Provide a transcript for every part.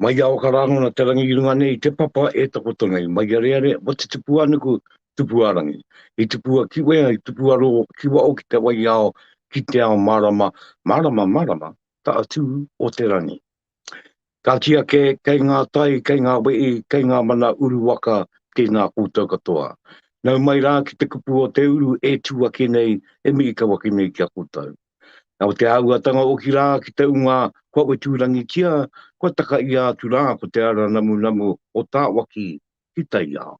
Mai a oka rangona te rangi i runga nei te papa e takoto nei mai a reare mo te tupu a nuku tupu a rangi i tupu a kiwea i tupu a ro kiwa o ki te wai ao ki te ao marama marama marama ta atu o te rangi ka ki a ke kei nga tai kei nga wei kei nga mana uru waka te na koutou katoa nau mai ra ki te kupu o te uru e tu ake nei e mi i kau ake nei ki a koutou Na o te āhuatanga o ki rā ki te unga kua wetūrangitia, kua takaia atu rā ko te ara namunamu o Tāwaki ki taiao.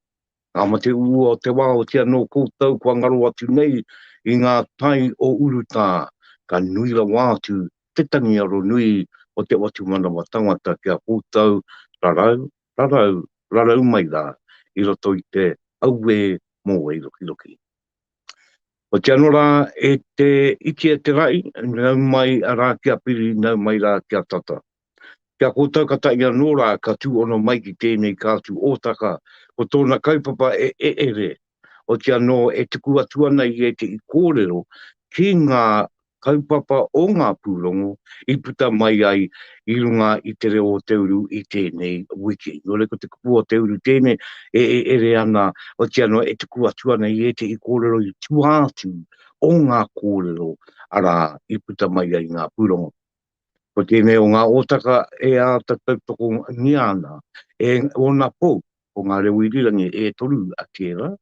Ngā mate uua o te wā o tia nō koutou kua ngaro atu nei i ngā tai o urutā, ka nui rawa atu te tangi aro nui o te whatumanawa tangata ki a koutou rarau, rarau, rarau mai rā i roto i te auē mōweirokiroki. Ko te ano ra e te iti e te ra'i, nau mai ra kia piri, nau mai ra kia tata. Ki a koutou ka ta'i ano ra ka tu ono mai ki tenei katu otaka, ko tona kaupapa e e'ere, otiano e tuku atu ana ia te i korero ki nga kaupapa o ngā pūrongo i puta mai ai i runga i te reo o te uru i tēnei wiki. Nō reira, ko te kupu o te uru tēnei e ere ana, otiia noa, e tuku atu ana i ētehi kōrero i tua atu o ngā kōrero, arā, i puta mai ai ngā pūrongo. Ko tēnei o ngā ōtaka e āta tautokongia ana e ōna pou, ko ngā reo irirangi e toru a tērā,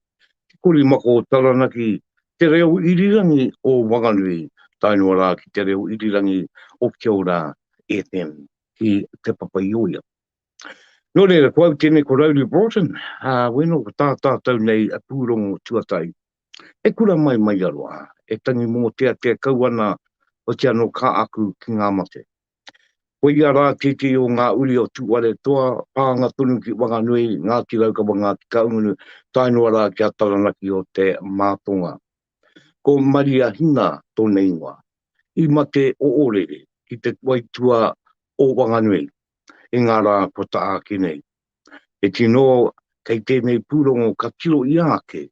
Te Korimako o Taranaki, Te Reo Irirangi o Wanganui, tae noa rā ki Te Reo Irirangi o Kia Ora FM ki Te Papaioea. Nō reira, ko au tēnei ko Rowley Broughton, ā, wēnō ko tā tātou nei pūrongo tuatahi. E kura mai mai aro a, e tangi mōteatea kau ana hoki anō kā aku ki ngā mate. Ko ia rā tētehi o ngā uri o Tūwharetoa, pānga tonu ki Wanganui, Ngāti Raukawa, Ngāti Kahungunu, tae noa rā ki a Taranaki o te Mātonga. Ko Maria Hina tōna ingoa. I mate o Ōrere, ki te waitua o Wanganui, i ngā rā kua ta āki nei. He tino kei tēnei pūrongo ka tiro ia ake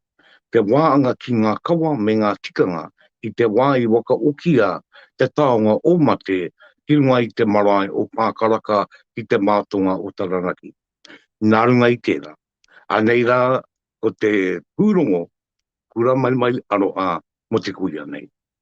te wāanga ki ngā kawa me ngā tikanga i te wā i wakaokia te taonga o Mate ki runga i te marae o Pākaraka ki te mātonga o Taranaki. Nā runga i tērā, anei rā ko te pūrongo Kura Maimai Aroha mō te kuia nei.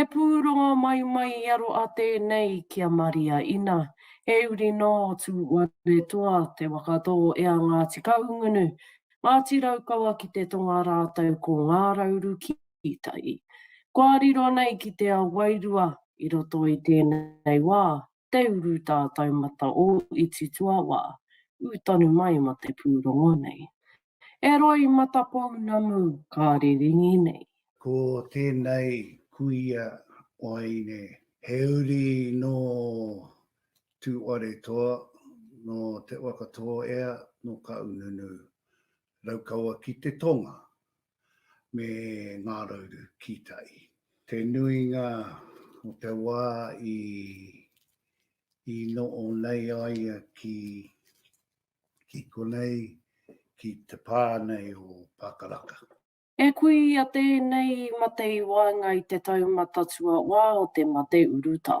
E pūrongo mai mai i aro a tēnei ki a Maria ina, he uri nō Tūwaretoa te waka tō ea Ngāti Kahungunu, Ngāti Raukawa ki te tonga rātou ko Ngārauru ki tai. Kua riro nei ki te ao wairua i roto i tēnei wā, Te uru tā taumata o iti tuawā, ū tonu mai ma te pūrongo nei. E roi mata pounamu ka riringi nei. Ko tēnei kuia waeine he uri nō Tūwaretoa, nō Te Waka Tōea, nō Kaununu, Raukawa ki te tonga, me Ngā Rauru ki tai. Te nuinga o te wā i, i noo nei aia ki, ki konei, ki te pā nei o Pākaraka. E kui i a tēnei mate i waenga i te tau matatua wā o te mate urutā.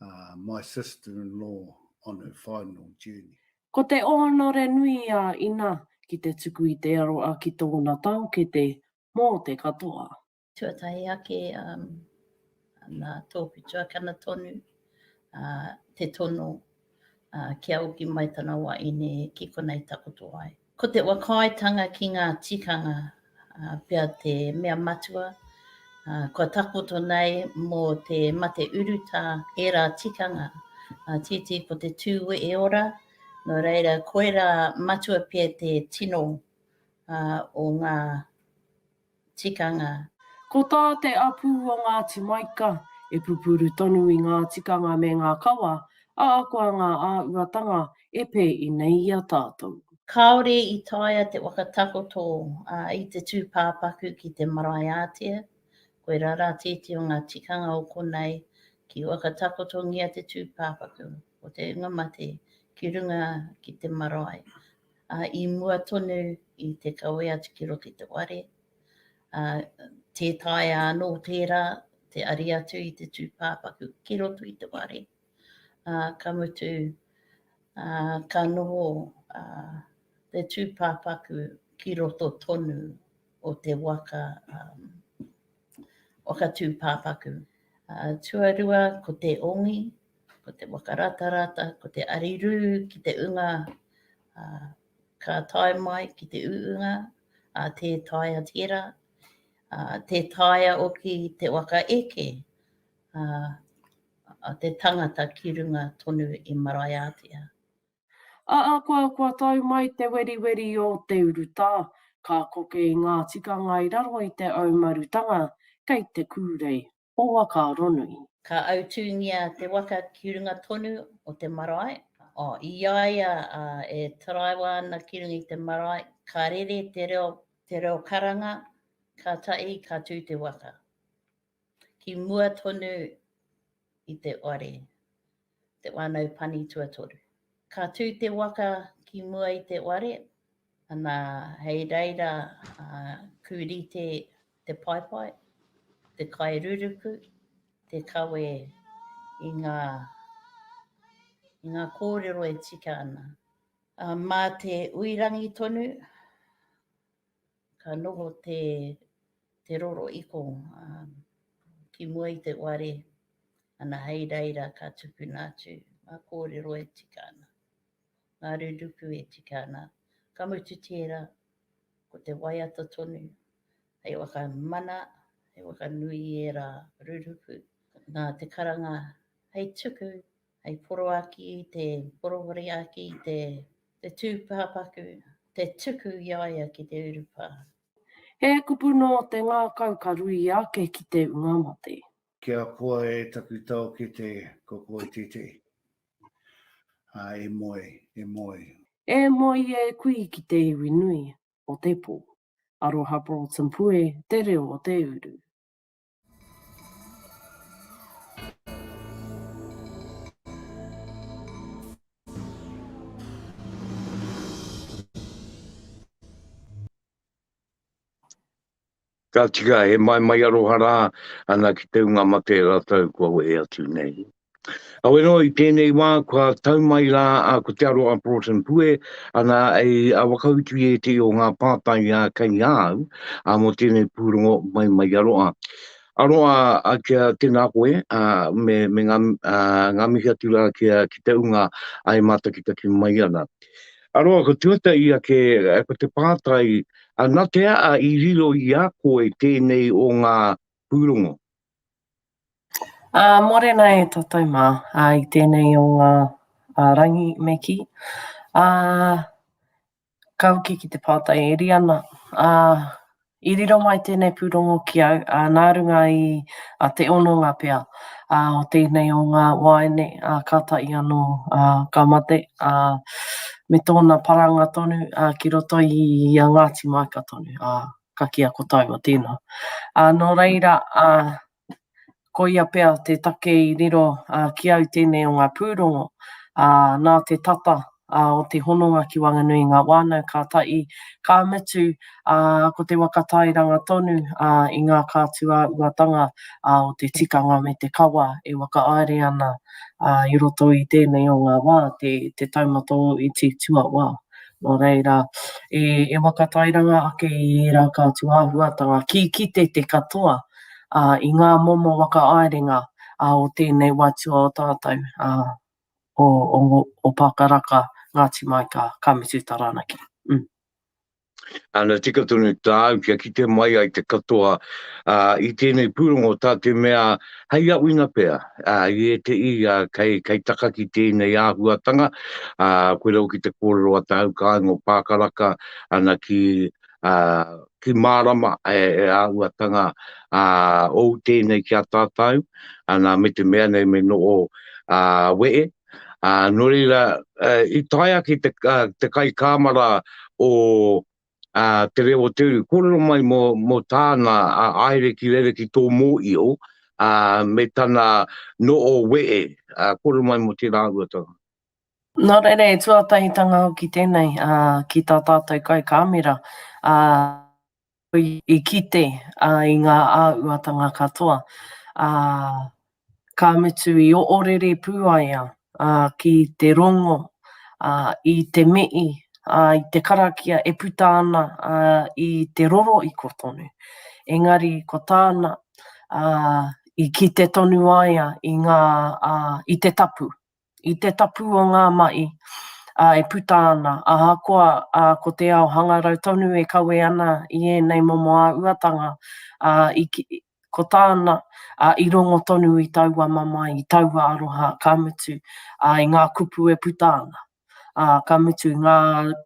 uh, my sister-in-law on her final journey. Ko te ōnore nui a Ina ki te tuku i te aroa ki tōna taokete mō te katoa. Tuatahi ake, um, nā tōku tuakana tonu, uh, te tono uh, kia oki mai tana wā ine ki konei takoto ai. Ko te whakaaetanga ki ngā tikanga pea te mea matua kua takoto nei mō te mate urutā ērā tikanga tītī ko te tū wehe ora, nō reira koirā matua pea te tino o ngā. tikanga. Ko tā te apū o Ngāti Maika, e pupuru tonu i ngā tikanga me ngā kawa, ahakoa ngā āhuatanga e pēi nei i a tātou. Kāore i taea te whakatakoto i te tūpāpaku ki te marae ātea, koirā rā tēti o ngā tikanga o konei, ki whakatakotongia te tūpāpaku o te hunga mate ki runga ki te marae Ā, i mua tonu i te kawe atu ki roto i te ware, ā, tē taea anō tērā te ari atu i te tūpāpaku ki roto i te ware, ā, ka mutu, ā, ka noho, ā, te tūpāpaku ki roto tonu o te waka, ā, waka tūpāpaku. Ā, tuarua ko te ongi, Ko te whakaratarata, ko te arirū ki te unga ka tae mai ki te uunga, tē taea tērā, tē taea hoki te waka eke a te tangata ki runga tonu i Maraiaatea. Ahakoa kua tau mai te weriweri o te urutā, ka koke i ngā tikanga i raro i te aumarutanga kei te kūrei. o Wakaronui. Ka autūngia te waka ki runga tonu o te marae. I a ia e taraiwa ana ki runga i te marae, ka rere te reo, te reo karanga, kātahi ka tū te waka ki mua tonu i te whare. Te Whānau Pani Tuatoru. Ka tū te waka ki mua i te ware, ana hei reira ku rite te paepae, te kairuruku, te kawe i ngā i ngā kōrero e tika ana. Mā te uirangi tonu Ka noho te te roro iko ki mua i te ware ana hei reira ka tukuna atu nga korero e tika ana, nga ruruku e tika ana, ka mutu tera ko te waiata tonu hei whakamana, hei whakanui i era ruruku, na te karanga hei tuku hei poroaki i te porowariaki i te te tūpāpaku, te tuku i a ia ki te urupā. He kupu nō te ngākau ka ruia ake ki te ua mate. Kia koa e taku taokete ko koe tētehi. Ā, e moe, e moe. E moe e kui ki te iwi nui o te pō. Aroha Broughton Pue te reo o te uru. Ka tika he maimai aroha rā, ana ki te unga mate rātou kua wehe atu nei. Aweroa, i tēnei wā kua tau mai rā a Ko Te Aroha Broughton Pue, ana i a whakautu i ētehi o ngā pātai a kei a au, a mō tēnei pūrongo mai mai i a roa. A roa, a kia tēnā koe, a me, me ngā, a, ngā mihi atu rā ki, a, ki te unga a e mātakitaki mai ana. A roa, ko tuatahi ake, ko te pātai, a na te aa i riro i a koe tēnei o ngā pūrongo? Ā, mōrena e tātou mā i tēnei o ngā rangi me kī. Ā, ka hoki ki te pātai e riri ana, ā, i riro mai tēnei pūrongo ki au, ā, nā runga i te hononga pea o tēnei o ngā wāhine kātahi anō ka mate, ā, me tōna paranga tonu ki roto i a Ngāti Māika tonu. ka kīa ko tāua tēnā. Ā, nō reira, ā, koia pea te take i riro ā, ki au tēnei o ngā pūrongo, ā, nā te tata ā, o te hononga ki waenganui i ngā whānau ka tahi, ka mutu, ā, ko te waka tairanga tonu ā, i ngā kātuāuatanga ā, o te tikanga me te kawa e whakaāere ana ā, i roto i tēnei o ngā wā, te, te taumata o iti tuawā. Nō reira, e whakatairanga ake i ērā kātua āhuatanga ki kite te katoa i ngā momo whakaaerenga o tēnei watua o tātou, o Pākaraka, Ngāti Maika, Ka Mutu Taranaki. Ana, tika tonu tāu kia kite mai ai te katoa i tēnei pūrongo, tā te mea, Hei aʻuina pea, i ēteʻi kei taka ki tēnei āhuatanga, koe rau ki te kōrero a Te Haukāinga o Pākaraka ana ki mārama e āhuatanga ou tēnei ki a tātau, ana me te mea nei me noho weʻe. Nō reira, i tae ake te kaikāmara o a Te Reo o Te Uri, kōrero mai mō, mō tāna a aere ki rere ki tō mōio, a, me tana no o wee, a, kōrero mai mō tērā uatanga. Nō reira, e tuatahitanga hoki tēnei a, ki tā tātou kai kāmera, a, i kite a, i ngā āuatanga katoa, a, ka mutu i oʻorere pū ai a ki te rongo i te mihi, i te karakia e puta ana i te roroiko tonu. Engari ko tāna, i kite tonu ai a i ngā, i te tapu, i te tapu o ngā mahi e puta ana, ahakoa ko te ao hangarau tonu e kawe ana i ēnei momo āhuatanga, Ko tāna, ā, i rongo tonu i taua mamae, i taua aroha, ka mutu, ā, i ngā kupu e puta ana, ā, ka mutu, ngā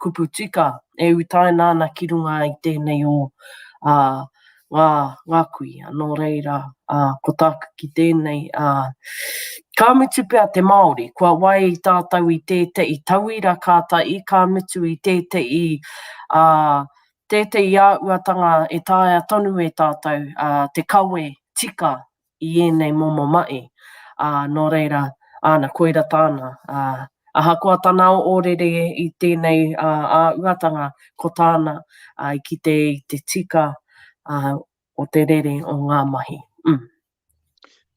kupu tika e utaina ana ki runga i tēnei o, ā, ngā, ngā kuia. Nō reira, ā, ko tāku ki tēnei, ā, ka mutu pea te Māori, kua wae i tātou i tēteʻi tauira kātaʻi, ka mutu i tēteʻi, ā, Tētehi āhuatanga e taea tonu e tātou te kawe tika i ēnei momo mahi, ā, nō reira, āna, koira tāna. Ahakoa tana ōrere i tēnei āhuatanga, ko tāna i kite i te tika o te rere o ngā mahi.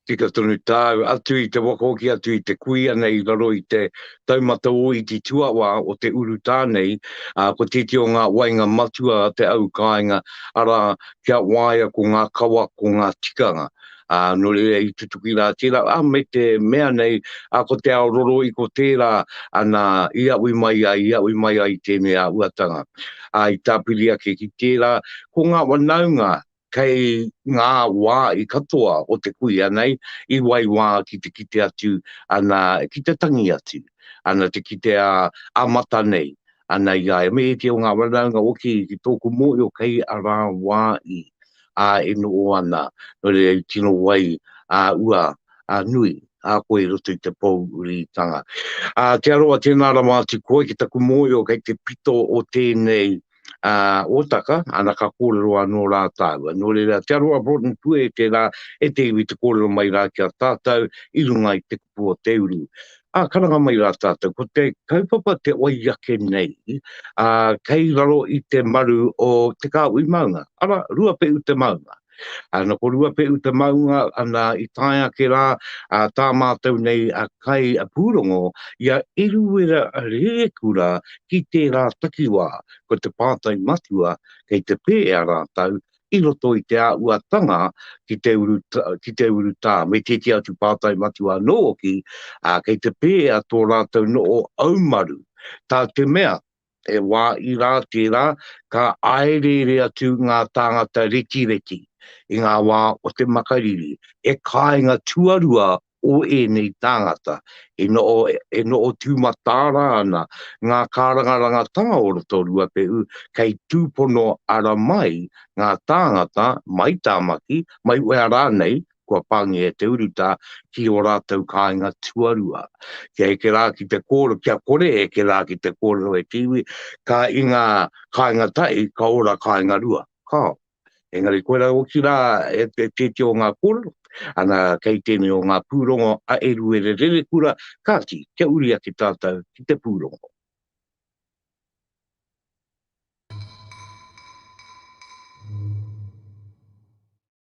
Tika tonu tāu, atu i te waka hoki atu i te kuia nei i raro i te taumata o iti tuawā o te urutā nei, ā, ko tētehi o ngā wainga matua a te au kāinga, arā, kia waia ko ngā kawa, ko ngā tikanga. Ā, nō reira i tutuki rā tērā, ā, me te mea nei, ā, ko te ao roro i ko tērā, ana, i aʻwi mai ai, i aʻwi mai ai i tēnei āhuatanga. Ā, i tāpiri ake ki tērā, ko ngā wanaunga, kei ngā wā i katoa o te kuia nei, i waiwā ki te kite atu, ana, ki te tangi atu, ana, te kite a, a Mata nei, ana, i a Emeiti o ngā Ranaunga Oki ki tōku mōhio kei a rā wā i, a, e noho ana, nō reira i tino wai a ua, a nui, a koe i roto i te pōuritanga. A, Te Arawa, tēnā rawa atu koe ki taku mōhio kei te pito o tēnei, ā, Ōtaka, ana ka kōrero anō rā tāua. Nō reira, te aroha Broughton Pue tērā e te iwi te kōrero mai rā ki a tātou i runga i te kupu o te uru. Ā, karanga mai rā tātou, ko te kaupapa te wai ake nei, ā, kei raro i te maru o Te Kāhui Maunga, arā, Ruapehu te maunga. A na ko Ruapehu te maunga ana i tae ake rā a tā mātou nei a kai a pūrongo i a Eruera Rerekura ki tērā takiwā, ko te pātai matua kei te pēea rātou i roto i te āhuatanga ki te uru ki te urutā me tēti atu pātai matua anō hoki, a kei te pēea tō rātou noho aumaru, tā te mea E wā ira tērā, ka āereere atu ngā tāngata rekireki i ngā wā o te makariri, he kāinga tuarua o ēnei tāngata. E noho, e noho tūmataara ana ngā kārangarangatanga o roto Ruapehu kei tūpono ara mai ngā tāngata, mai Tāmaki, mai whea rānei, kua pāngia e te urutā ki ō rātou kāinga tuarua. Kia eke rā ki te kōrero, kia kore e eke rā ki te kōrero e te iwi, ka i ngā kāinga tahi, ka ora kāinga rua. Ka. Engari koirā hoki rā e te tēti o ngā kōrero, ana kei tēnei o ngā pūrongo a Eruere Rerekura, kāti, kia uri ake tātou ki te pūrongo.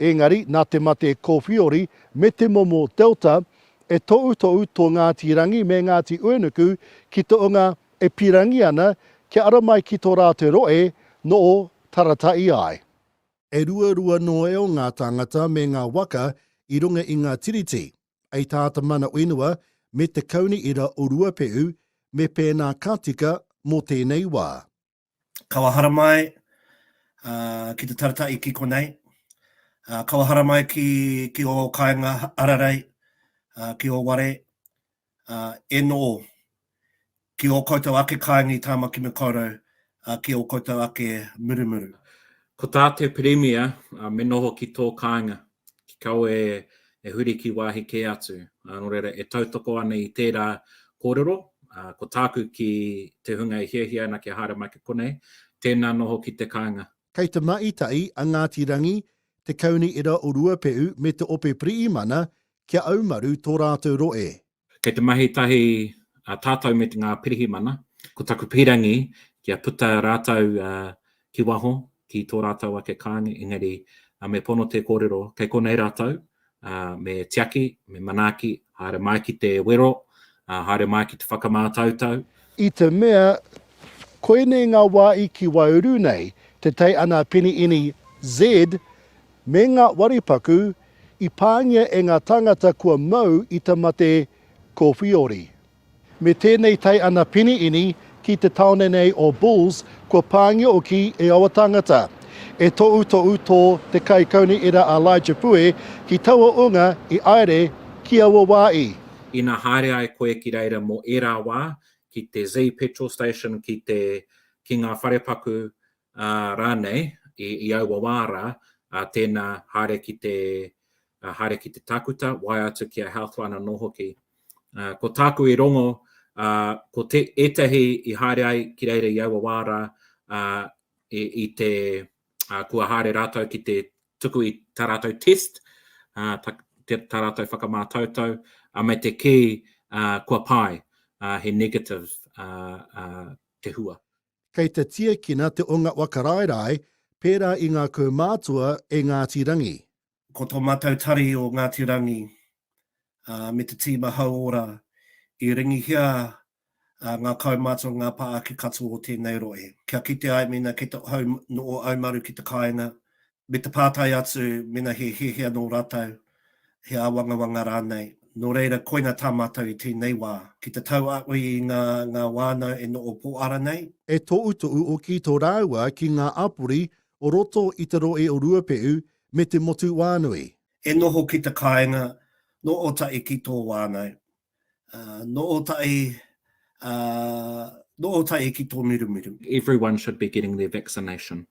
Engari, nā te mate kōwhiori me te momo Delta, e toʻutoʻu tō Ngāti Rangi me Ngāti Uenuku ki te onga e pirangi ana kia ara mai ki tō rātou roe nō Tarataʻi ai. E ruarua noeo ngā tāngata me ngā waka i runga i ngā tiriti, ei tā te mana whenua me te kauni ira o Ruapehu me pēnā ka tika mō tēnei wā. kawa haramai uh, ki te taratai ki konei, uh, kawa haramai ki, ki o kainga ararei, uh, ki o ware, uh, e no, ki o koutou ake kaingi tāmaki me koutou, uh, ki o koutou ake murumuru. Ko tā te Pirimia, uh, me noho ki tō kāinga. ki kawe e huri ki wāhi kē atu. Nō reira, e tautoko ana i tērā kōrero, ko tāku ki te hunga e hiahia ana kia haere mai ki konei, tēnā noho ki te kāinga. Kei te mahi tahi a Ngāti Rangi, Te Kaunihera o Ruapehu me Te Ope Piriimana kia aumaru tō rātou rohe. Kei te mahi tahi a tātou me ngā pirihimana, ko taku pīrangi kia puta rātou ki waho, ki tō rātou ake kāinga, engari me pono te kōrero kei konei rātou, me tiaki, me manaaki, haere mai ki te wero, haere mai ki te whakamātautau, I te mea, koinei ngā wāhi ki Waiuru nei, Te Tai Ana Peni Ini Z, me ngā waripaku i pāngia e ngā tāngata kua mau i te mate ko Whiori. Me tēnei Tai Ana Peni Ini ki te tāone nei o Bulls kua pāngia hoki e aua tāngata. E tohutohu tō te kaikauniera a Elijah Pue ki taua ūnga i aere ki aua wāhi. ina haere ai koe ki reira mō ērā wā, ki te Zee Petrol Station, ki te, ki ngā wharepaku, ā, rānei, i, i aua wā rā, ā, tēnā, haere ki te, ā, haere ki te tākuta, waea atu ki a Healthline anō hoki. Ā, ko tāku i rongo, ā, ko te, ētahi i haere ai ki reira i aua wā rā, ā, i, i te, ā, kua haere rātou ki te, tuku i tā rātou test, tā rātou whakamātautau, me te kī kua pai, he negative te hua. Kei te tiekina te o nga wa Karaerae pērā i ngā kaumātua e Ngāti Rangi. Ko tō mātou tari o Ngāti Rangi me te tīma hauora i ringihia ngā kaumātua, ngā pā ake katoa o tēnei rohe. Kia kite ai mēnā kei te hau nō Aumaru ki te kāinga, me te pātai atu mēnā he hēhea nō rātou, he āwangawanga rānei. Nō reira, koinā tā mātou i tēnei wā, ki te tauākī i ngā ngā wānau e noho pōara nei. E toʻutoʻu hoki tō rāua ki ngā āpori o roto i te rohe o Ruapehu me te motu wānui. E noho ki te kāinga nō Ōtaʻi ki tō wānau. Nō Ōtaʻi, nō Ōtaʻi ki Tōmirumiru. Everyone should be getting their vaccination.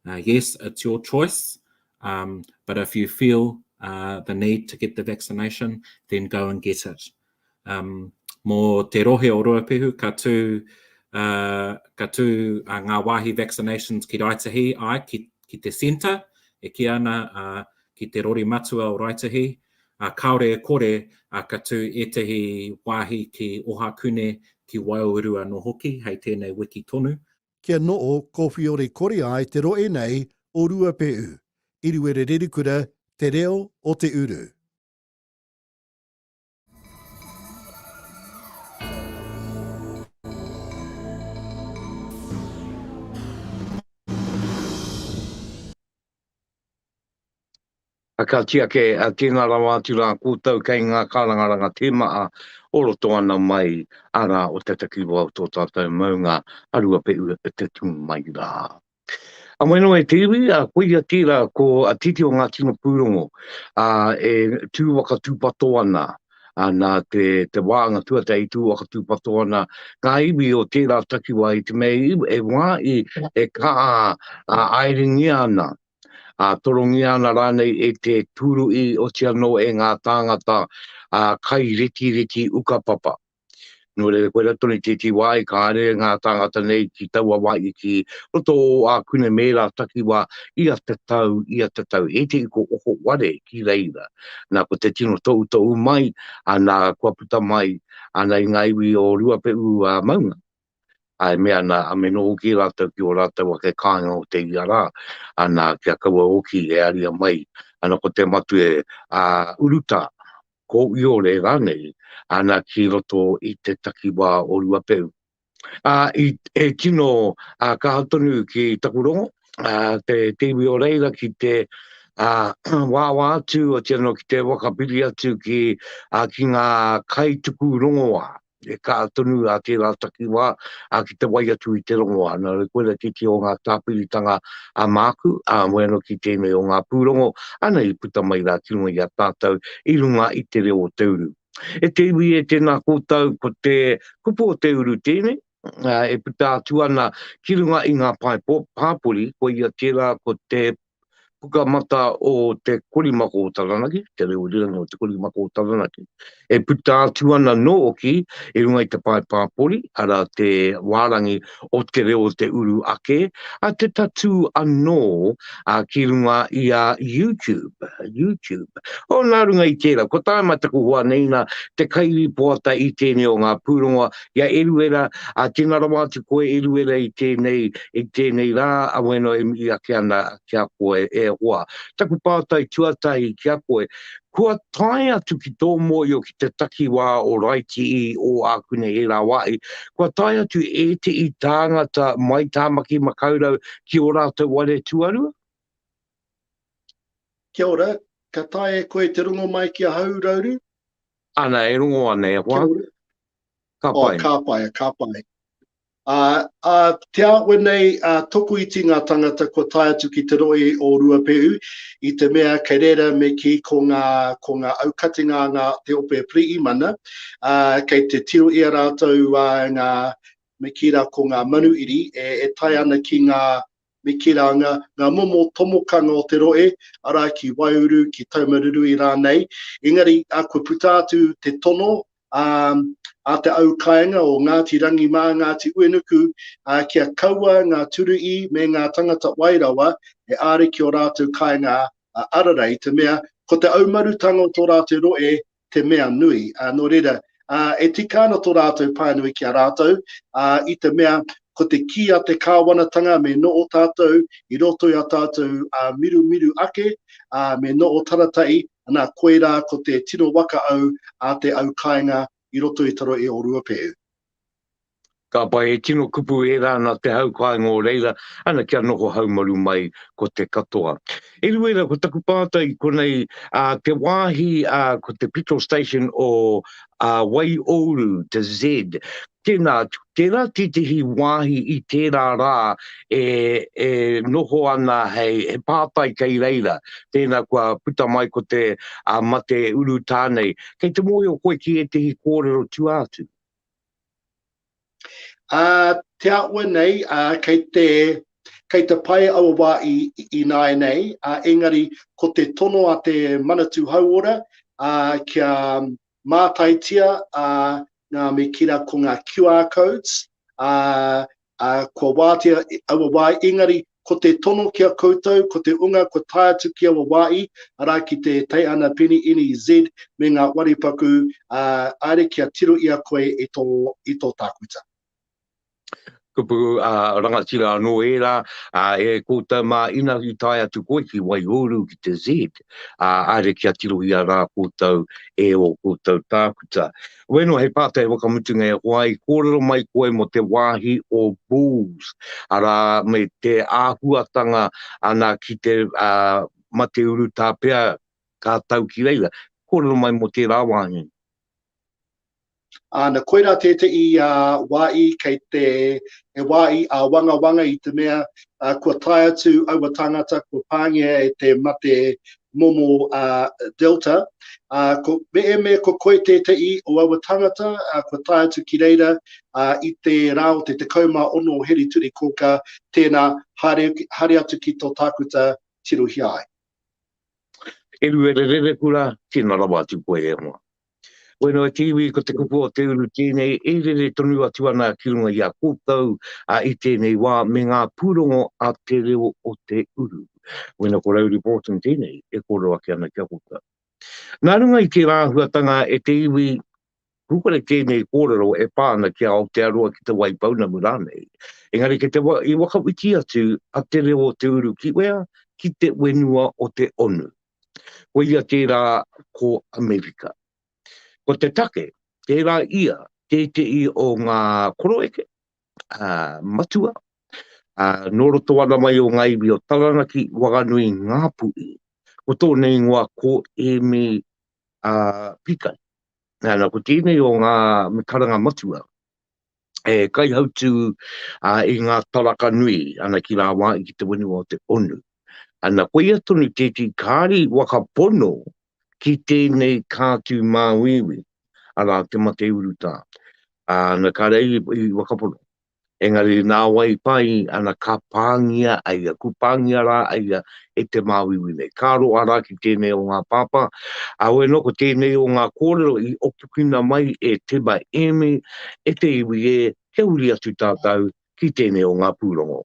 Yes, it's your choice, but if you feel the need to get the vaccination, then go and get it. Mō te rohe o Ruapehu, ka tū ngā wāhi vaccinations ki Raetihi, āe, ki te centre, e kī ana ki te rori matua o Raetihi, Ā, kāore e kore, ā, ka tū ētahi wāhi ki Ohakune, ki Waiuru anō hoki, hei tēnei wiki tonu. Kia noho kōwhiore kore ai te rohe nei o Ruapehu, Iruere Rerikura, Te Reo o te Uru. Ka tiaki a Te Inga Rawa atu rā koutou kei ngā kārangaranga tēmaha o roto ana mai ara o te takiwa o tō tātou maunga a Ruapehu te tū mai rā. A Moenoo e te iwi, a koia tērā ko a Titi o Ngāti Nopūrongo, a e tū waka tūpato ana, ā, nā te, te wānga tuatahi i tū whakatūpato ana ngā iwi o tērā takiwā i te mea i, e wā i, e kā, ā, aerengia ana, ā, torongia ana rānei e te tūru i oti anō e ngā tāngata, ā, kai retireti ukapapa. Nō reira, koirā tonu i tētī wā i kāre ngā tāngata nei ki taua wā i ki roto o Ākune me ērā takiwā ia te tau, ia te tau, he iti ko oko ware ki reira. Nā, ko te tino toutou mai, nā, kua puta mai, nā, i ngā iwi o Ruapehu a Maunga. e mea ana, a me noho ki rātou ki ō rātou ake kāinga o te ia rā, ana, kia kaua hoki e aria mai, ana, ko te matue, ā, urutā, ko Iore rānei, ana, ki roto i te takiwā o Ruapeu. Ā, i, e tino, ā, kaha tonu ki taku rongo, ā, te, te iwi o reira ki te, ā, wāwā atu, otiano ki te whakapiri atu ki, ā, ki ngā kaituku rongoā. e ka tonu a tērā takiwā a ki te wai atu i te rongoa nā re koe ra titi o ngā tāpiritanga a māku a moe anō ki tēnei o ngā pūrongo ana i puta mai rā ki runga i a tātou i runga i te reo o te uru e te iwi e tēnā kōtau ko te kupu o te uru tēnei e puta atu ana ki runga i ngā pae pō pāpori ko ia tērā ko te Pukamata o Te Korimako o Taranaki, Te Reo Rīrangi o Te Korimako o Taranaki, e puta atu ana nōki i runga i te pae pāpori, arā te wārangi o Te Reo o Te Uru Ake, a te tatū anō a ki runga i a YouTube, YouTube. O nā runga i tērā, ko tāima taku hoa nei nā te kairipoata i tēnei o ngā pūrongo Ki a Eruera, āwhina rawa atu koe Eruera i tēnei, i tēnei rā, awena e mihi ake ana ki a koe e hoa. Taku pātai tuatahi ki a koe, kua tae atu ki tō mōio ki te takiwā o Raiti i ō ākune he rā wāhi, kua tae atu ētehi tāngata mai Tāmaki Makaurau ki ō rātou ware tuarua? Kia ora, ka taea e koe te rongo mai ki ahau Rauru? Ana, e rongo ana e hoa. Kia ora. Ka pai. Oh, ka pai, ka pai. A, a te awe nei, a toku iti ngā tangata kua tae atu ki te roi o Ruapehu, i te mea kei reira me ki ko ngā, ko ngā aukatinga ngā te ope Priimana, a, kei te tiro i a rātou a, ngā, me ki ra ko ngā manuiri e, e tae ana ki ngā, me Keranga, ngā momo tomokanga o te rohe, arā, ki Waiuru, ki Taumarurui rānei, engari, kua puta atu te tono a te au kāinga o Ngāti Rangi mā Ngāti Uenuku kia kaua ngā Turuī me ngā tangata wai rawa e āre ki ō rātou kāinga arara, i te mea, ko te aumarutanga o tō rātou rohe te mea nui. Ā, nō reira, ā, e tika ana tō rātou pānui ki a rātou, ā, i te mea, ko te kī a te Kāwanatanga me noho tātou i roto i a tātou ā mirumiru ake, ā, me noho taratai, nā, koirā ko te tino waka au a te au kāinga i roto i te rohe o Ruapehu. Ka pai, he tino kupu ērā nā te hau kāinga o reira, ana kia noho haumaru mai ko te katoa. Eruera ko taku pātai i konei, ā, te wāhi, ā, ko te petrol station o, ā, Waiōuru, te Z, tēnā, tērā tētehi wāhi i tērā rā e, e noho ana hei, he pātai kei reira, tēnā kua puta mai ko te, ā, mate urutā nei. Kei te mōhio koe ki ētehi kōrero tua atu? Ā te āhua nei, kei te, kei te pae aua wā i, ināianei, ā, engari ko te tono a te Manatū Hauora, ā, kia mātaitia, ā, ngā me kira ko ngā QR codes, ā, Ā, kua wātea aua wā, engari, ko te tono ki a koutou, ko te unga kua tae atu ki aua wā i, arā, ki te Teihana Peni NEZ me ngā wari paku, ā, haere kia tiro i a koe e tō, i tō tākuta. Kupu, ā, rangatira anō ērā, ā, e koutou mā, ina i tae atu koe ki Waiuru, ki te Z, ā, haere kia tirohia rā koutou e ō koutou tākuta. Ueno, hei pātai whakamutunga e hoa, i kōrero mai koe mō te wāhi o Bulls, arā, me te āhuatanga ana ki te uh, mate urutā pea ka tau ki reira. Kōrero mai mō tērā wāhi. Āna, koirā tētehi uh, wāhi kei te he wāhi a uh, wangawanga i te mea uh, kua tae atu aua tāngata kua pāngia e te mate momo a Delta, a ko Meeme ko koe tete'i o aua tangata a kua tae atu ki reira a i te ra o te 16 o Heri Turi Koka, tena haere haere atu ki to Takuta tirohia ai. Eruerererekura, tena rawa atu koe e hoa. Wero e te iwi ko te kupu o te uru tēnei e rere tonu atu ana ki runga i a koutou a i tēnei wā me ngā pūrongo a te reo o te uru. Wero ko Rowley Borton tēnei e kōrero ake ana ki a koutou. Nā runga i tērā āhuatanga e te iwi Hukare tēnei kōrero e pā ana ki a Aotearoa ki te Wai Pounamu rānei. Engari kei te i whakawhiti atu a te reo o te uru ki wea? Ki te wenua o te onu. Koia tērā ko Amerika. Ko te take, tērā ia tētehi o ngā koroeke, ā, matua, ā, nō roto ana mai o ngā iwi o Taranaki, Wanganui, Ngāpuhi, ko tōna ingoa ko Ēmi, ā, Pīkari. Nana, ko tēnei o ngā karanga matua. e kaihautū i ngā taraka nui ana ki rāwāi ki te whenua o te onu. Ana, koia tonu tētī kāri waka pono ki tēnei kātū māuiui, arā, te mate urutā. Ana, kāre ai i waka pono. Engari nāwai pai, ana, ka pāngia aia, ku pāngia rā aia e te māuiui nei. Ka roa rā ki tēnei o ngā pāpā, ā, hoi anō ko tēnei o ngā kōrero i opukina mai e Te Maeeme, e te iwi ē, kia huri atu tātou ki tēnei o ngā pūrongo.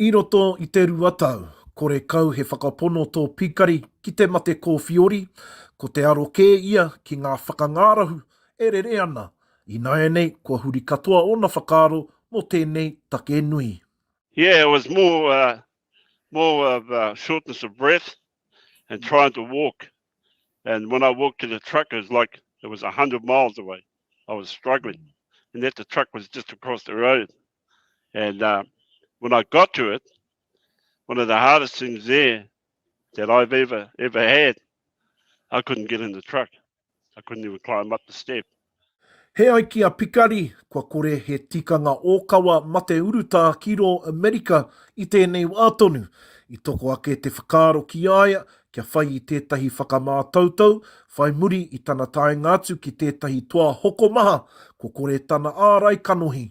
I roto i te rua tau, kore kau he whakapono tō Pikari ki te mate kōwhiori, ko te aro kē ia ki ngā whakangārahu e rere ana, ināianei kua huri katoa ōna whakaaro mō tēnei take nui. Yeah, it was more uh, more of uh, shortness of breath and trying to walk. And when I walked to the truck, it was like it was 100 miles away. I was struggling. And yet the truck was just across the road. And uh, when I got to it, one of the hardest things there that I've ever ever had, I couldn't get in the truck. I couldn't even climb up the step. He ai ki a Pikari, kua kore he tikanga ōkawa mate urutā ki rō Amerika i tēnei wā tonu. I toko ake te whakaaro ki a ia kia whai i tētahi whakamātautau, whai muri i tana taenga atu ki tētahi toa hokomaha, kua kore tana ārai kanohi.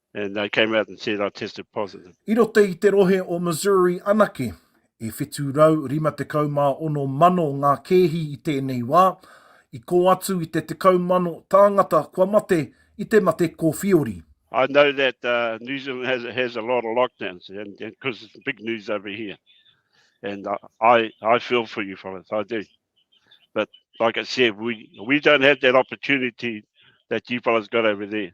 And they came out and said I tested positive. I roto i te rohe o Missouri anake, e 756 mano ngā kēhi i tēnei wā, i kō atu i te tekau mano tāngata kua mate i te mate kōwhiori. I know that uh, New Zealand has, has a lot of lockdowns, and because it's big news over here. And uh, I, I feel for you fellas, I do. But like I said, we, we don't have that opportunity that you fellas got over there.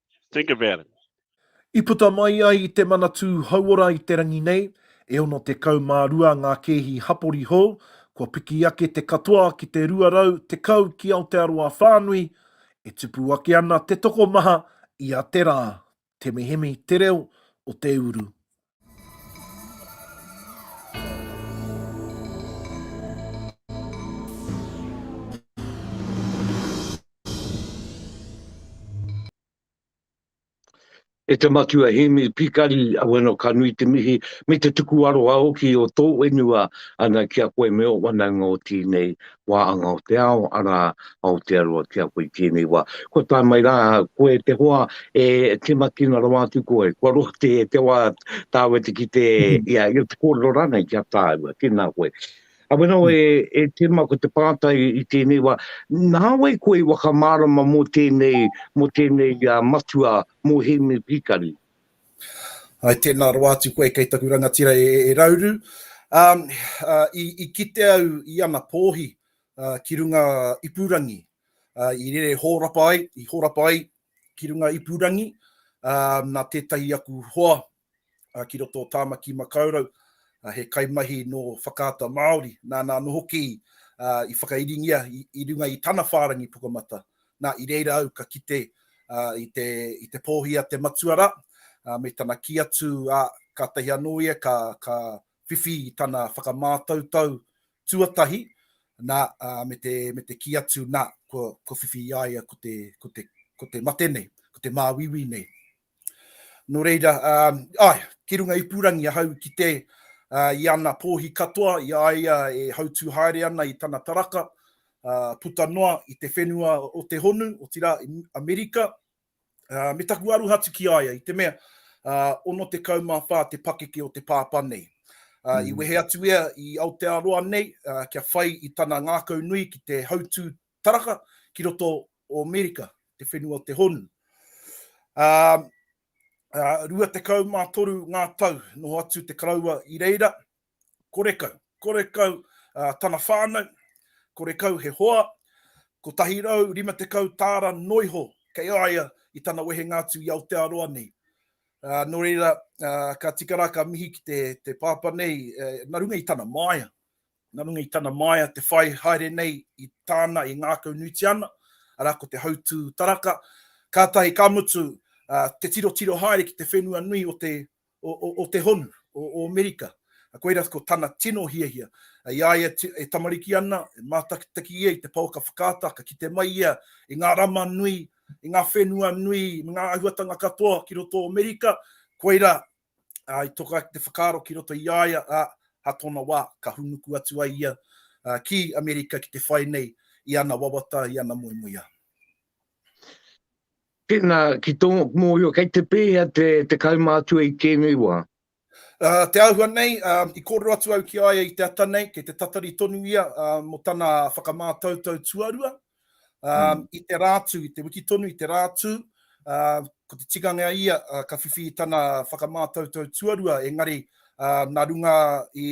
Think about it. I puta mai ai i te Manatū Hauora i te rangi nei, e 62 ngā kēhi hapori hou, kua piki ake te katoa ki te 210 ki Aotearoa whānui, e tupu ake ana te tokomaha ia te rā, te mihemi te reo o te uru. E te Matua Hēmi Pikari, wena ka nui te mihi me te tuku aroha hoki o tō whenua ana ki a koe me ō whanaunga o tēnei wā anga o te ao, arā, Aotearoa ki a koe i tēnei wā. Kua tae mai rā koe te hoa e timakina rawa atu koe, kua roa te te wā tāu e te kite, ia, ia te kōrero rānei ki a tāua, tēnā koe. A wena wai e tima ko te pātai i tēnei wā, nā wai koe i whakamārama mō tēnei, mō tēnei matua, mō Hēmi Pikari? Hai tēnā rawa atu koe kei taku rangatira e Rauru. I kite au i ana pōhi ki runga ipurangi. I rere hōrapa ai, i hōrapa ai ki runga ipurangi nā tētahi aku hoa ki roto o Tāmaki Makaurau, he kaimahi nō Whakaata Māori, nāna anō hoki i whakairingia i runga i tana whārangi pukamata, Nā, i reira au ka kite i te, i te pōhi a te matua rā, me tana kī atu, ā, kātahi anō ia ka, ka whiwhi i tana whakamātautau tuatahi, nā, ā, me te, me te kī atu, nā, kua, kua whiwhi i a ia ko te, ko te, ko te mate nei, ko te māuiui nei. Nō reira, āe, ki runga ipurangi ahau ki te i ana pōhi katoa i a ia e hautū haere ana i tana taraka, puta noa i te whenua o te honu, otirā i Amerika, me taku aroha atu ki a ia, i te mea, 64 te pakeke o te pāpā nei. I wehe atu ia i Aotearoa nei kia whai i tana ngākau nui ki te hautū Taraka ki roto o Amerika, te whenua o te honu. Ā, ā, rua tekau mā toru ngā tau noho atu te karaua i reira, kore kau, kore kau ā, tana whānau, kore kau he hoa, kotahi rau rima tekau tāra noa iho kei a ia i tana wehenga atu i Aotearoa nei. Ā, nō reira, ā, ka tika rā ka mihi ki te, te pāpā nei, ā, nā runga i tana māia, Nā runga i tana māia te whai haere nei i tāna i ngākaunuitia ana, arā ko te hautū taraka, kātahi ka mutu te tirotiro haere ki te whenua nui o te o te honu, o Amerika. Koira ko tana tino hiahia. I a ia e tamariki ana, e mātakitaki ia i te paoka whakaata, ka kite mai ia i ngā rama nui, i ngā whenua nui me ngā āhuatanga katoa ki roto o Amerika, koira ā, i toka ake te whakaaro ki roto i a ia, ā, ā tōna wā, ka hūnuku atu ai ia ki Amerika ki te whai nei i ana wawata, i ana moemoeā. Tēnā, ki tō mōhio, kei te pēhea te kaumātua i tēnei wā? Te āhua nei, i kōrero atu au ki a ia i te ata nei, kei te tatari tonu ia mō tana whakamātautau tuarua, Um, I te rātū, i te wiki tonu, i te rātū, uh, ko te tikanga a ia, uh, ka whiwhi i tana whakamātautau tuarua, engari uh, nā runga i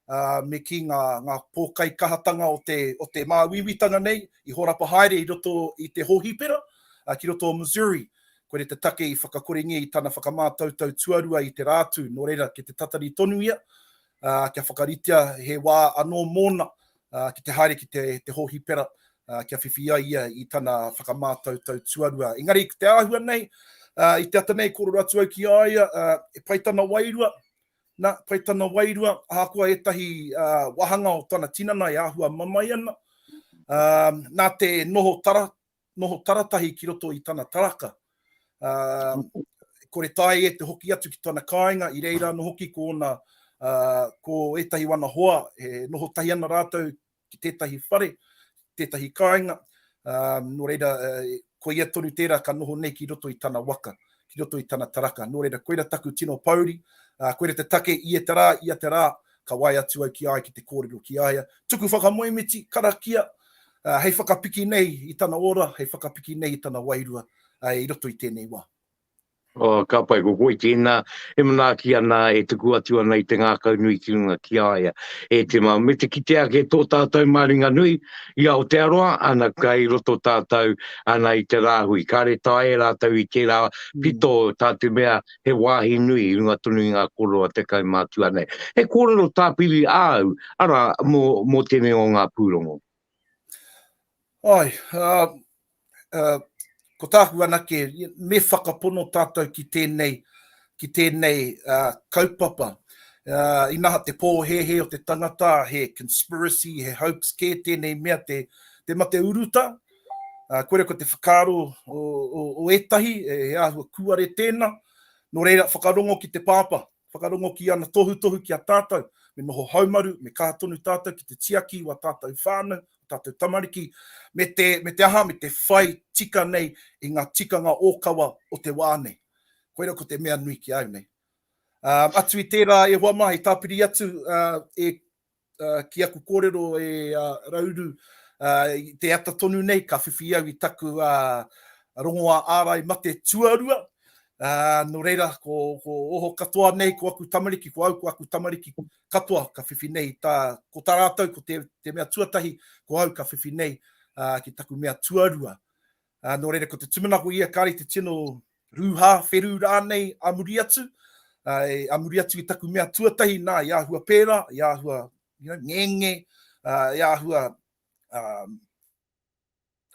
uh, me ki ngā, ngā pōkai kahatanga o te, o te māuiuitanga nei, i horapa haere i roto i te hōhipera, uh, ki roto o Missouri, ko re te take i whakakorengia i tana whakamātautau tuarua i te rātū, nō reira, ki te tatari tonu ia, uh, kia whakaritea he wā anō mōna, uh, ki te haere ki te, te hōhipera uh, kia whiwhi ai ia i tana whakamātautau tuarua. Engari, ki te āhua nei, uh, i te ata nei kōrero atu au ki aia, uh, e pai tana wairua, na, pai tana wairua, ahakoa ētahi uh, wahanga o tana tinana e āhua mamae ana, uh, nā te noho tara, noho taratahi ki roto i tana taraka. Kore tae e te hoki atu ki tana kāinga, i reira ano hoki ko ona, ko etahi wana hoa, e noho tahi ana ratou ki tetahi whare, tetahi kainga, no reira, koia tonu tera ka noho nei ki roto i tana waka. ki roto i tana taraka. Nō reira, koira taku tino pōuri, ā, koira te take i e te rā, ia te rā, ka wae atu au ki a ia ki te kōrero ki a ia. Tuku whakamoemiti, karakia, ā, hei whakapiki nei i tana ora, hei whakapiki nei i tana wairua, ā, i roto i tēnei wā. Ā, ka pai, ko koe tēnā e manaaki ana, e tuku atu ana i te ngākaunui ki runga ki a ia. E Tima, me te kite ake tō tātou māringanui. I Aotearoa, ana kai roto tātou, ana i te rāhui, kāre tae e rātou i tērā pito tā te mea he wāhi nui i runga tonu i ngā kōrero a te kaumātua nei. He kōrero tāpiri āu, arā, mō, mō tēnei o ngā pūrongo. Āe, ā, ko tāku anake, me whakapono tātou ki tēnei, ki tēnei uh, kaupapa. Uh, inaha te pōhēhē o te tangata, he conspiracy, he hoax kē tēnei mea te, te mate uruta. Uh, kore ko te whakaaro o, o, o etahi, e, e āhua kuare tēna. Nō reira, whakarongo ki te pāpā. Whakarongo ki ana tohutohu ki a tātou, me noho haumaru, me kaha tonu tātou ki te tiaki i wā tātou whānau, o tātou tamariki, me te, me te aha, me te whai tika nei i ngā tikanga ōkawa o te wā nei. Koira ko te mea nui ki a au nei. Ā, atu i tērā e hoa mā, i tāpiri atu, ā, e ki aku kōrero e a Rauru, te ata tonu nei ka whiwhi au i taku rongoā ārai mate tuarua, nō reira ko oho katoa nei ko aku tamariki, ko au ko aku tamariki katoa ka whiwhi nei, ko tā rātou ko te mea tuatahi ko au ka whiwhi nei ki taku mea tuarua. Ā, nō reira, ko te tūmanako ia, kāre i te tino rūhā, wheru rānei a muri atu, ā, a muri atu i taku mea tuatahi, nā, i āhua pērā, i āhua, you know, ngenge, ā, i āhua, ā,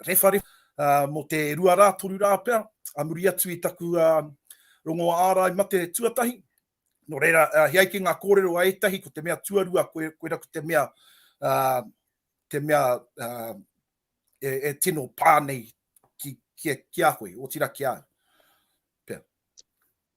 rewharewha, ā, mō te rua rā, toru rā pea, a muri atu i taku, ā, rongoā ārai mate tuatahi. Nō reira, ā, he ai ki ngā kōrero a ētahi, ko te mea tuarua, koe, koera ko te mea, ā, te mea, ā, e, e tino pā nei ki, ki, ki a koe, o tira ki a au.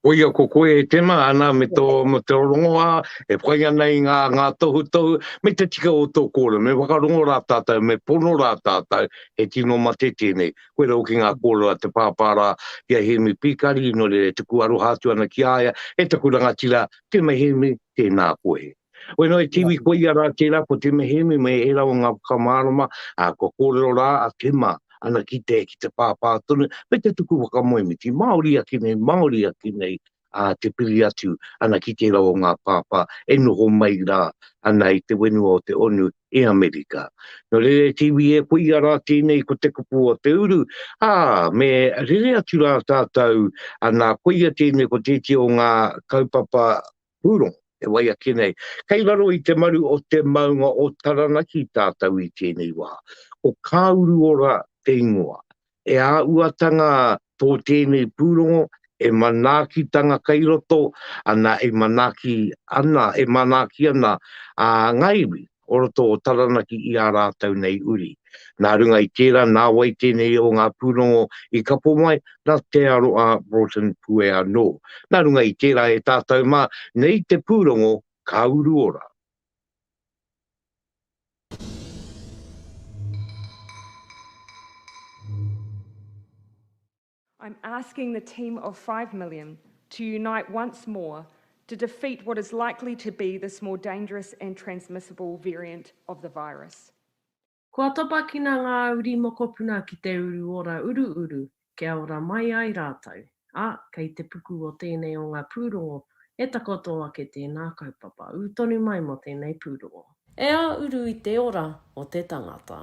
Ko ia ko koe e tena, ana me tō mo te rongoa, e whai ana i ngā, ngā tohu tohu, me te tika o tō kōrero, me whakarongo rā tātou, me pono rā tātou, he tino mate tēnei. Koe rau ki ngā kōrero a te pāpāra, ki a Hemi Pīkari, no re te kuaroha atu ana ki aia, e taku rangatira, tēnei Hemi, tēnā koe. Wai noa i te iwi ko ia rā tērā ko Te Mehemi me ērā o ngā whakamārama, ā, kua kōrero rā a Kima ana ki te, ki te pāpā tonu, me te tuku whakamoemiti, Māori ake nei, Māori ake nei, ā, te piri atu ana ki tērā o ngā pāpā e noho mai rā ana i te wenua o te onu i Amerika. Nō reira e te iwi e ko ia rā tēnei ko te kupu o te uru, ā, me rere atu rā tātou, ā, nā, ko ia tēnei ko tētia o ngā kaupapa Pūrongo, e wai ake nei, kei raro i te maru o te maunga o Taranaki tātou i tēnei wā. Ko Kāuruora te ingoa. E āuatanga tō tēnei pūrongo, e manaakitanga kei roto, ana e manaaki ana, e manaaki ana ngā iwi. o roto o Taranaki i ā rātou nei uri. Nā runga i tērā, nā wai tēnei o ngā pūrongo i kapo mai, nā Te Aroa Broughton Pue anō. Nā runga i tērā e tātou mā, nei te pūrongo ka uru ora. I'm asking the team of five million to unite once more to defeat what is likely to be this more dangerous and transmissible variant of the virus. Kua topakina ngā uri mokopuna ki te uru ora uruuru kia ora mai ai rātou, ā, kei te puku o tēnei o ngā pūrongo e takoto ake tēnā kaupapa ū tonu mai mō tēnei pūrongo. E āuru i te ora o te tangata.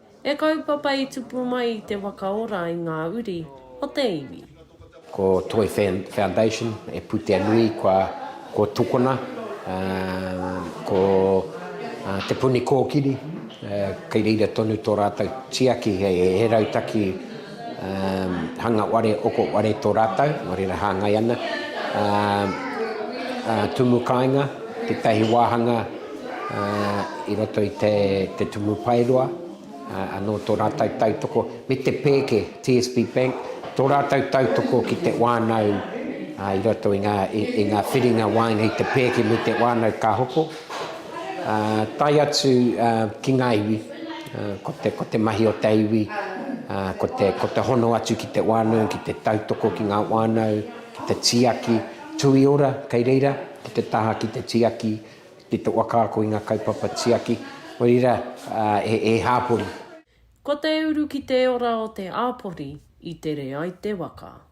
E kaupapa i tupu mai i te waka ora i ngā uri o te iwi. Ko Toi Foundation e putea nui kua ko tukona ko Te Puni Kōkiri kei reira tonu tō rātou tiaki he rautaki hanga ware, oko ware tō rātou, nō reira hāngai ana, tumu kāinga, tētahi wāhanga i roto i te Tumu Paeroa, anō tō rātou tautoko, me te pēke, TSB Bank, tō rātou tautoko ki te wānau i roto i ngā whiringa waenga i te pēke me te wānau ka hoko. Tae atu ki ngā iwi, ko te mahi o te iwi, ko te hono atu ki te whānau, ki te tautoko ki ngā whānau, ki te tiaki, tui ora kei reira, ki te taha ki te tiaki, ki te whakaako i ngā kaupapa tiaki, oira e hāpori. Ko te uru ki te ora o te āpori i tere ai te waka.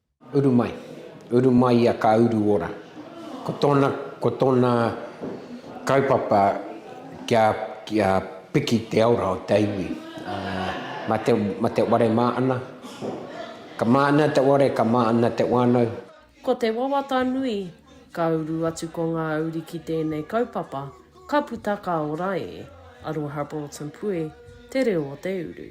Uru mai. Uru mai ia ka uru ora. Ko tōna, ko tōna kaupapa kia, kia piki te aura o te iwi. Ma te, ma te ware mā ana. Ka mā ana te ware, ka mā ana te wānau. Ko te wawata nui, ka uru atu ko ngā uri ki tēnei kaupapa, ka puta ka ora e. Aroha Broughton Pue, Te Reo o te Uru.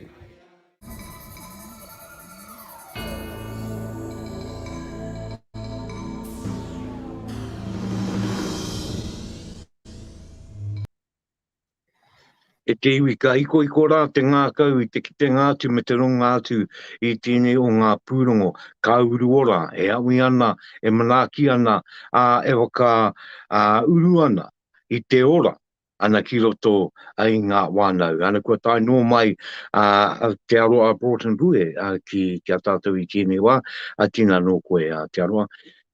E te iwi, ka hikohiko rā te ngākau i te kitenga atu me te runga atu i tēnei o ngā pūrongo, ka uru ora, e awi ana, e manaaki ana, ā, e whakauru ana i te ora ana ki roto ai i ngā wānau. Ana kua tae noa mai a, a Te Aroa Broughton Bue a, ki, ki a tātou i tēnei wā, a tina nō koe a Te Aroa.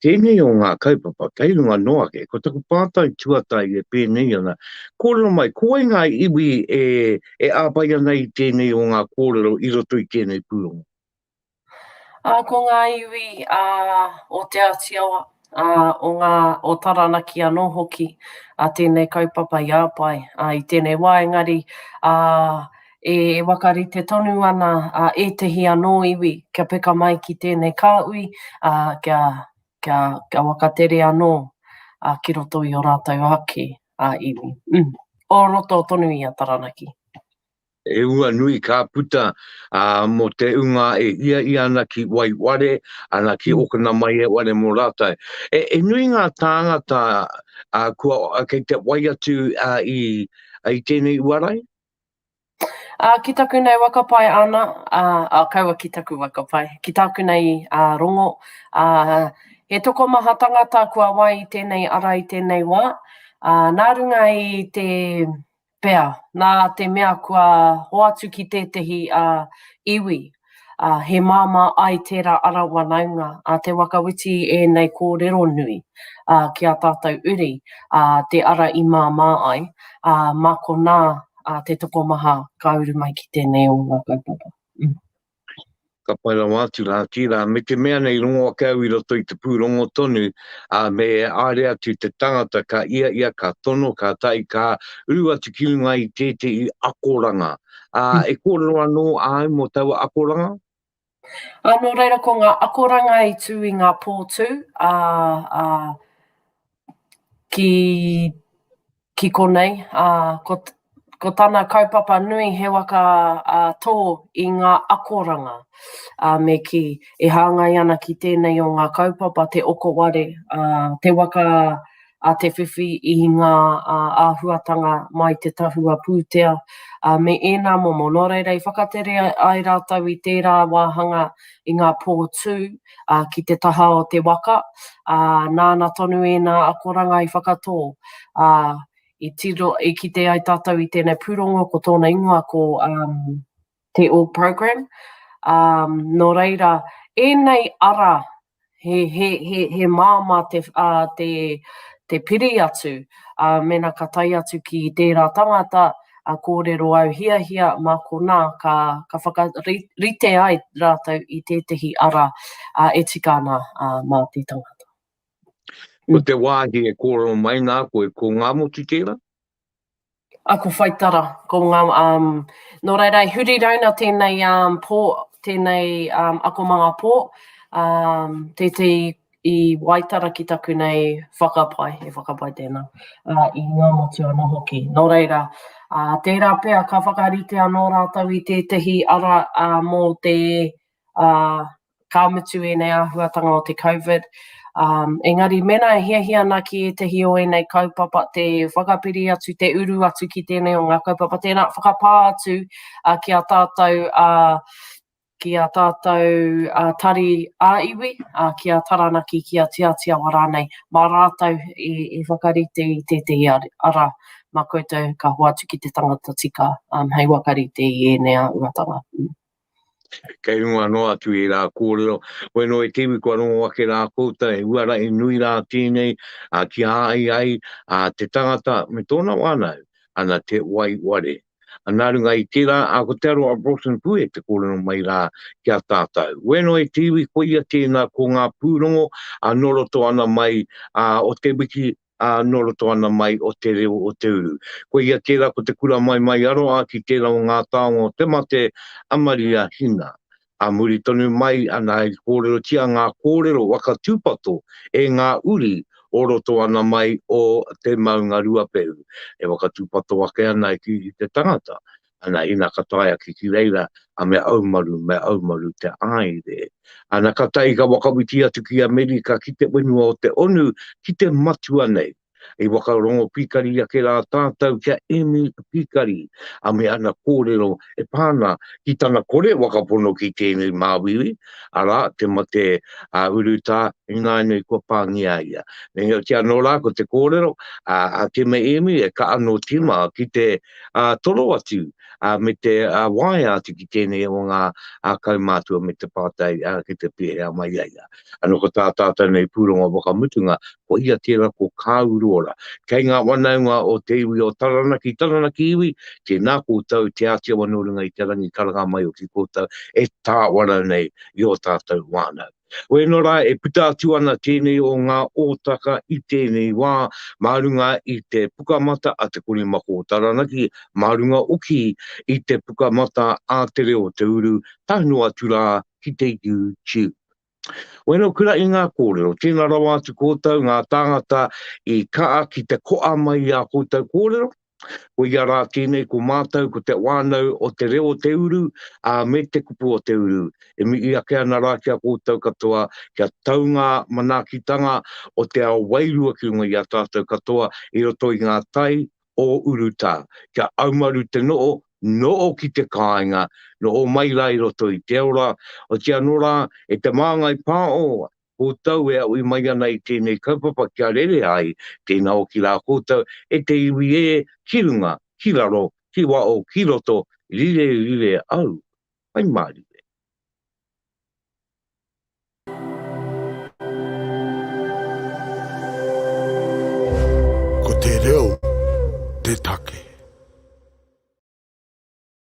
Tēnei o ngā kaupapa, kei runga noa ake, ko taku pātai tuatai e pēnei ana, kōrero mai, ko wai ngā iwi e, e āpai ana i tēnei o ngā kōrero i roto i tēnei pūrongo? Ā, ko ngā iwi ā, o Te Āti Awa, ā, o ngā, o Taranaki anō hoki, ā, tēnei kaupapa i āpae, ā, i tēnei wā engari, ā, e whakarite tonu ana, ā, ētehi anō iwi kia peka mai ki tēnei kāhui, ā, kia, kia, kia whakatere anō, ā, ki roto i ō rātou ake, ā, iwi. Ū, o roto tonu i a Taranaki. He ua nui ka puta a, mo te unga e hia i ana ki wai ware, ana ki mm. okana mai e ware mo rātou. E, e nui ngā tāngata a, kua, a, kei te wai atu a, i, a, i tēnei uarai? A, ki taku nei wakapai ana, a, a kaua ki taku wakapai, ki taku nei a, rongo, a, he tokomaha tangata kua wai i tēnei ara i tēnei wā, a, nā runga i te Pea, nā te mea kua hoatu ki tētehi iwi, he māmā ai tērā ara wanaunga a Te Whakawhiti i ēnei kōrero nui ki a tātou uri, te ara i māmā ai, mā konā te tokomaha ka uru mai ki tēnei o ngā kaupapa. ka pai rawa atu rā, ki rā, me te mea nei rongo ake au i roto i te pūrongo tonu, ā, me haere atu te tangata ka ia ia ka tono, ka tae, ka uru atu ki runga i tētehi akoranga. Ā, e kōrero anō au mō taua akoranga? Ā, nō reira ko ngā akoranga i tū i ngā pō tū, ā, ā, ki konei. Ko tana kaupapa nui he waka tō i ngā akoranga me kī, e hāngai ana ki tēnei o ngā kaupapa, te okoware, te waka a te whiwhi i ngā āhuatanga mai te tahua pūtea me ēnā momo. Nō reira, i whakatere ai rātou i tērā wāhanga i ngā pō tū, ā, ki te taha o te waka, ā, nāna tonu ēnā akoranga i whakatō, ā, i tiro, i kite ai tātou i tēnei pūrongo ko tōna ingoa ko um, Te All Program. Um, nō reira, ēnei ara he, he, he, he māma te, uh, te, te piri atu, uh, mena ka tai atu ki tērā tangata, a kōrero au hiahia mā konā ka ka whakarite ai rātou i tētehi ara ā e tika ana ā mā te tangata. Ko te wāhi e kōrero mai nā koe ko ngā motu tērā? A ko Whaitara ko ngā um nō reira e huri rauna tēnei um pō tēnei um akomanga pō um tētehi i Waitara ki taku nei whakapae, e whakapae tēnā, ā, i ngā motu anō hoki. Nō reira, ā, tērā pea ka whakarite anō rātou i tētehi ara ā, mō te, ā, ka mutu ēnei āhuatanga o te Covid, ā, engari mēnā e hiahia ana ki ētehi o ēnei kaupapa te whakapiri atu, te uru atu ki tēnei o ngā kaupapa, tēnā, whakapā atu ā, ki a tātou, ā, ki a tātou a Tari ā iwi, a ki a Taranaki, ki a Tiatiawa rānei, mā rātou i, i whakarite i tētehi ara mā koutou ka hoatu ki te tangata tika um, hei wakarite i ēnei āhuatanga. Mm. Kei runga noa atu i rā kōrero, koe no e tiwi kua rongo ake rā kouta e uara i nui rā tēnei a ki a ai ai a te tangata me tōna wānau ana te wai ware. Nā runga i tērā, a ko Te Aroha Broughton Pue te kōrero mai rā ki a tātau. Wēnoi te iwi koia tēnā ko ngā pūrongo a nō roto ana mai a o te wiki a nō roto ana mai o te reo o te uru. Koia tērā ko te kura maimai aroa ki tērā o ngā taonga o te mate a Maria Hina. Ā muri tonu mai ana i kōrerotia ngā kōrero waka tūpato e ngā uri o roto ana mai o Te Maunga Ruapehu, e waka tūpato ake ana ki te tangata, ana, ina ka tae ake ki reira, a me aumaru, me aumaru te aire. Ana ka tae i ka whakawhiti atu ki Amerika, ki te whenua o te onu, ki te matua nei. I whakarongo pikari ake rā tātou kia emi pikari a me ana kōrero e pā ana ki tana kore whakapono ki tēnei māuiui, arā, te mate a Urutā ināianei kua pāngia ia. Meinoti anō rā ko te kōrero a Te Meemi e kaha nō tīma ki te toro atu me te waea atu ki tēnei o ngā kaumātua me te pātai ki te pēhea mai ai a. Ano ko tā tātou nei pūrongo whakamutunga, ko ia tērā ko Kāu Rōra. Kei ngā whanaunga o te iwi o Taranaki, Taranaki iwi, tēnā koutou, Te Āti Awa nō runga i te rangi karanga mai o ki koutou e tāwara nei i ō tātou whānau. Wēnā rā e puta atu ana tēnei o ngā ōtaka i tēnei wā mā runga i te Pukamata a Te Korimako o Taranaki, mā runga oki i te Pukamata a Te Reo o Te Uru, tae noa atu rā ki te YouTube. Wero kura i ngā kōrero, tēnā rawa atu kōtou ngā tāngata i kaha ki te koa mai i ā kōtou kōrero, ko ia rā tēnei ko mātou ko te wānau o te reo o te uru, ā, me te kupu o te uru, e mihi ake ana rā ki a kōtou katoa kia tau ngā manaakitanga o te ao wairua ki runga i a tātou katoa i roto i ngā tai o urutā, kia aumaru te no'o, no'o ki te kāinga, no'o mai rā i roto i te ora, oti anō rā, e te māngai pā o, koutou e aʻui mai ana i tēnei kaupapa kia rere ai, tēnā o ki rā koutou, e te iwi ē, ki runga, ki raro, ki waʻo, ki roto, rire, rire au, hai mārire. Ko te reo te take.